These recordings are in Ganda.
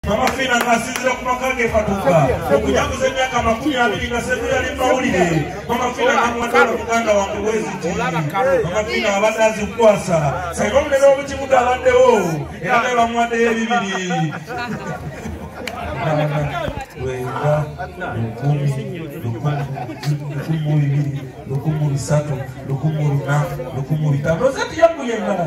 Mama Fina ng'asinzira ku maka ge Fatuka okujaguza emyaka amakumi abiri nga Sseguya yali mawulire Mama Fina n'amwatwala muganda wange Weziti Mama Fina abadde azikwasa singa omunene w'omukibuga abaddewo era naye bamwaddeyo ebibiri lwenda lukumi lukumu bibiri lukumu bisatu lukumu luna lukumu bitano ozati yaguye endala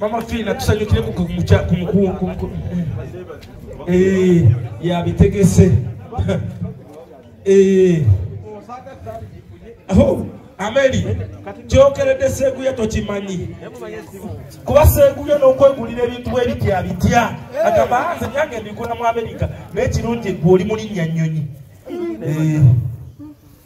mama fiina tusanyukire eh, yabitegese eh. oh, ameri kyokeredde seguya tokimanyi kuba seguya nokwegulira ebintu bwebitya bitya agamba nze byange mbigula mu amerika naye kirungi gwe oli mulinnya nyonyi eh.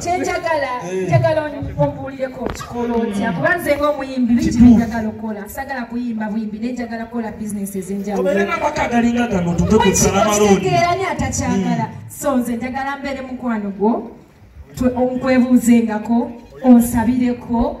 kyenjagala eh. njagala ombuulireko okikola otya kuba nze ngaomuyimbi biki byenjagala okukola sagala kuyimba buyimbi naye njagala kukola bizinesi ezenjawuloekitegeraani atakyagala hmm. so nze njagala mbeere mukwano gwo onkwebuuzengako onsabireko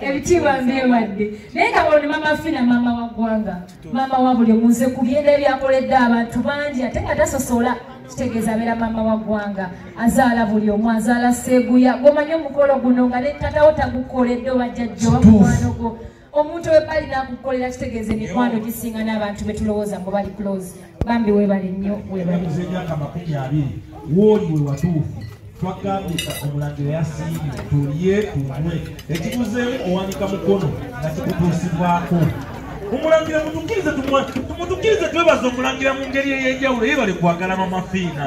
ebitiibwa mbiwadde naye nga bwoni mama fina mama wa ggwanga mama wa buli omunze ku byenda ebyakoledde abantu bangi ate nga tasosola kitegeeza abeera mama wa ggwanga azaala buli omu azaala seeguya gwomanyi omukolo guno nga ne tatawo tagukoledde oba jajja oba mukwano gwo omuntu webbali nakukolera kitegeeza emikwano gisinga n'abantu betulowooza mbu bali close bambi webale nnyo webalize emyaka makumi abiri wooli we watuufu twagambye omulangira yasiimye tulye tumwe ekikuzeemu owanika mukono nga kikutuusibwako omulangira mutukirize tumutukirize twebaza omulangira mu ngeri ey'enjawulo yebale kwagala mamafiina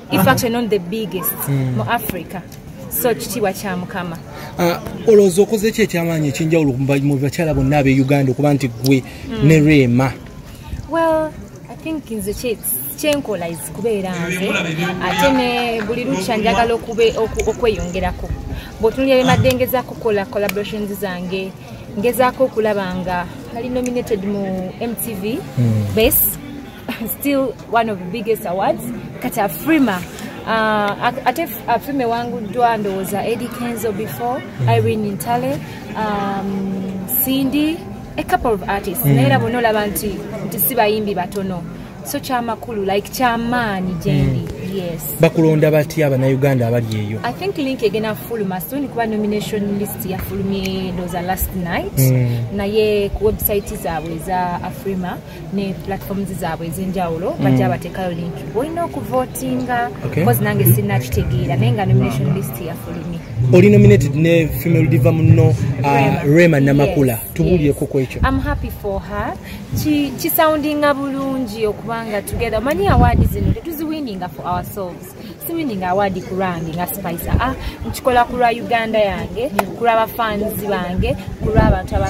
in fact not the biggest mm. mu africa so kitiibwa kya mukama ah, olowooza okoze ki ekyamaanyi ekyenjawulo mu bakyala bonna abe uganda okuba nti gwe mm. ne reema well i think nze kyenkola is kubeera nze ate ne buli lukya njagala okweyongerako bwotunulira byemadengeza kukola collaborations zange ngezaako okulaba nga ali nominated mu mtv mm. base still one of the biggest awards kati afrima uh, ate afrima ewanguddwa ndowooza edi kenzo before mm. irene ntale um, cindy a couple of artists mm. naye era bona olaba nti nti si bayimbi batono so kyamakulu like kyamaanyi gyendi mm. bakulonda batya abanauganda abali eyo i think link egenda kufuluma soon kuba nomination list yafulumye ndoza last night mm. naye ku website zaabwe eza afrima ne platforms zaabwe ezenjawulo mm. bajja batekayo link olina okuvotinga bcause nange sirina kitegeera naye nga nomination list yafulumi oli nominated ne female diva muno uh, rema namakula tubuulyeko ku ekyo am happy for her kisoundinga bulungi okubanga together omanyi awaadi zino tetuziwininga for ourselves siwininga awaadi ku lwange nga spicer ah nkikola ku lwa uganda yange ku lwa bafanzi bange ku lwa abantu abaa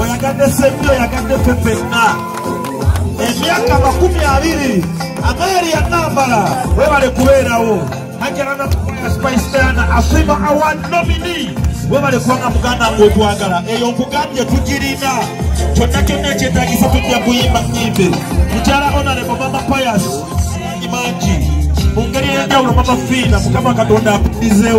oyagadde sembi oyagadde ffe fenna emyaka makumi abiri amaeri yanambala webale kubeerawo ajalana kukola spice diana asima award nomini webale kubanga muganda nga otwagala eyo nkugambye tugirina kyonna kyonna ekyetagisa tujja kuyimba nyimbe mukyala onalebo mama payas mangi mu ngeri eyenjawulo mama fiina mukama katonda akudizeewo